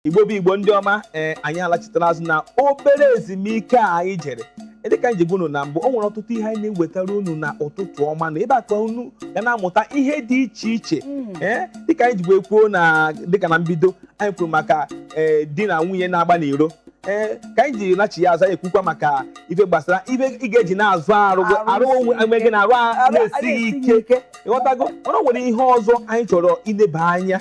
igbo bụ igbo ndị ọma ee anyị alachitela azụ na obere ezumike a anyị jere Ee, dịka anyị ji gwa unu na mbụ o nwere ọtụtụ ihe anyị na-ewetara unu na ụtụtụ ọma na ebe a ka unu ga na-amụta ihe dị iche iche ee dịka anyị ji kwuo na dịka na mbido anyị kwuru maka ee di na nwunye na-agba n'iro ee ka anyị ji lachi ya azụ anyị ekwukwa maka ife gbasara ife ị ga-eji na-azụ arụ gị- arụ onwe onwe gị na arụ a na-esighị ike ịghọtago mana o nwere ihe ọzọ anyị chọrọ ileba anya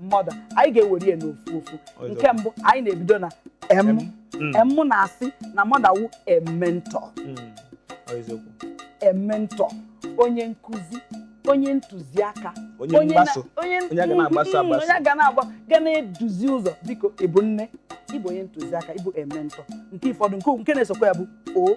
mother anyị ga-ewere ya n'ofu ofu nke mbụ anyị na-ebido na M M mm. na-asị na mother wụ a mentor a mentor mm. onye nkụzi onye ntụziaka onye ga na-agba ga na-eduzi ụzọ biko ịbụ nne ịbụ onye ntụziaka ịbụ a mentor nke ụfọdụ nke na-esokwa ya bụ o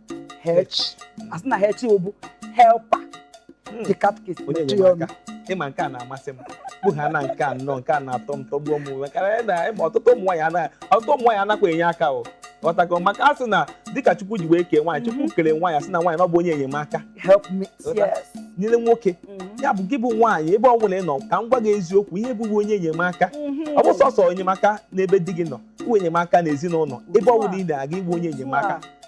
H asị na H bụ helper hmm. the catechist onye nyere aka ịma nke a na-amasị m bụ ha na nke anọ nke a na-atọ m tọgbuo m maka na ịma ọtụtụ ụmụ nwaanyị anaghị ọtụtụ ụmụ nwaanyị anakwa enye aka o ghọtago maka a sị na dịka chukwu ji wee kee nwaanyị chukwu mhm. kere nwaanyị asị na nwaanyị na ọ bụ onye enyemaka nyere nwoke mhm. ya bụ gị bụ nwaanyị ebe ọ bụla ị nọ ka m gwa gị eziokwu ihe ị bụ bụ onye enyemaka mhm. ọ bụ sọsọ enyemaka n'ebe di gị nọ bụ enyemaka n'ezinụlọ ebe ọ bụla ị na-aga ị bụ onye enyemaka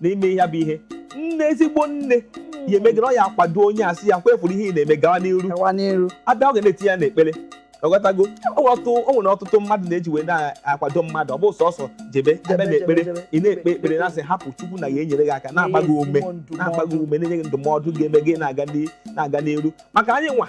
na ime ihe bụ ihe nne ezigbo nne ya eme gị na ọ ya akwado onye asị ya kwefuru ihe ị na-eme gawa n'iru gawa n'iru abịa ọ ga na-etinye ya n'ekpere ọghọtago o nwere ọtụtụ mmadụ na-eji wee na-akwado mmadụ ọ bụ sọsọ jebe jebe na ekpere ị na-ekpe ekpere na-asị hapụ chukwu na ya enyere gị aka na-agba gị ume na-agba gị ume na-enye gị ndụmọdụ ga-eme gị na-aga n'iru maka anyị nwa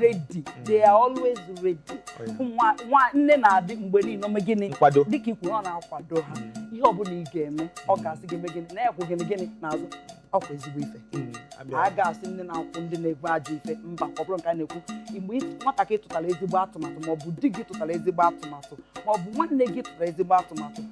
ready they are always ready Nwa- nwa- nne na-adị mgbe niile ime gịnị Nkwado. dịka i kwu ọ na-akwado ha ihe ọbụla ị ga-eme ọ ga-asị gị eme gịnị na ya kwụ gịnị gịnị n'azụ ọ kwa ezigbo ife a ga-asị nne na-akwụ ndị na-ekwu ajọ ife mba ọ bụrọ nke a na-ekwu mgbe ị- nwatakịrị tụtara ezigbo atụmatụ maọbụ di gị tụtara ezigbo atụmatụ maọbụ nwanne gị tụtara ezigbo atụmatụ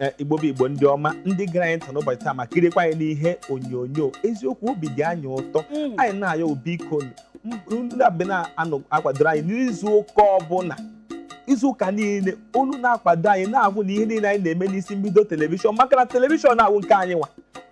eh, igbo bụ igbo ndị ọma ndị gere anyị ntị n'ụbọchị taa ma kirikwa anyị n'ihe onyonyo eziokwu obi dị anyị ụtọ Mm. anyị na-ayọ biko unu bịa na-akwadoro anyị n'izu ụka ọbụla izu ụka niile unu na-akwado anyị na-ahụ na ihe niile anyị na-eme n'isi mbido telivishọn maka na telivishọn a wụ nke anyị nwa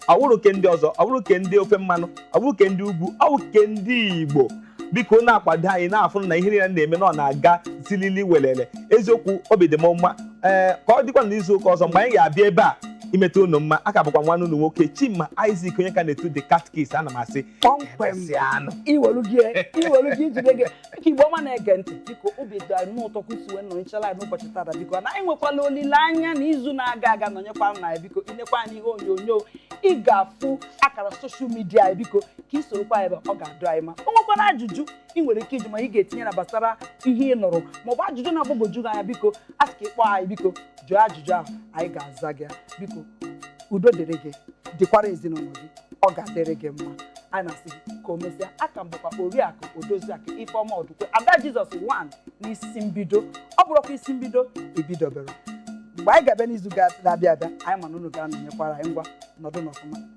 ọ bụrọ ke ndị ọzọ ọ bụrọ ke ndị ofe mmanụ ọ bụrọ ke ndị ugwu ọ bụ ke ndị igbo biko unu na-akwado anyị na-afụ na ihe niile na-eme na ọ na-aga zilili welele eziokwu obi dị m mma ee ka ọ dịkwa na izu ụka ọzọ mgbe anyị ga-abịa ebe a imeta unu mma aka bụkwa nwanne unu nwoke chima isaac onye ka na-etu the catechist ana m asị kpọmkwem Emesịanụ. iwelu gị iwelu gị ijide gị ka igbo ọma na-ege ntị biko obi dị anyị ụtọ ka unu si wee nọnyere anyị n'ụbọchị tata biko na anyị nwekwala olileanya na izu na-aga ị ga-anọnyekwara anyị biko i lekwa anya n'ihe onyonyo ị ga-afụ akara soshal midia anyị biko ka i sorokwa anyị ebe ọ ga-adị anyị mma o nwekwara ajụjụ ị nwere ike iji ma ị ga-etinye na gbasara ihe ị nụrụ maọbụ ajụjụ na-agbagwoju gị anya biko a sị ka ị kpọọ anyị biko jụọ ajụjụ ahụ anyị ga-aza gị ya. biko udo dịrị gị dịkwara ezinụlọ gị ọ ga-adịrị gị mma anyị na-asị gị ka o mesịa aka m bụkwa oriakụ odoziakụ ifeọma ọdụkwe ada jizọs one n'isi mbido ọ bụrụkwa isi mbido ibidobere mgbe anyị ga-abịa n'izu ga-abịa abịa anyị ma na unu ga-anọnyekwara anyị ngwa nọdụnụ ọfụma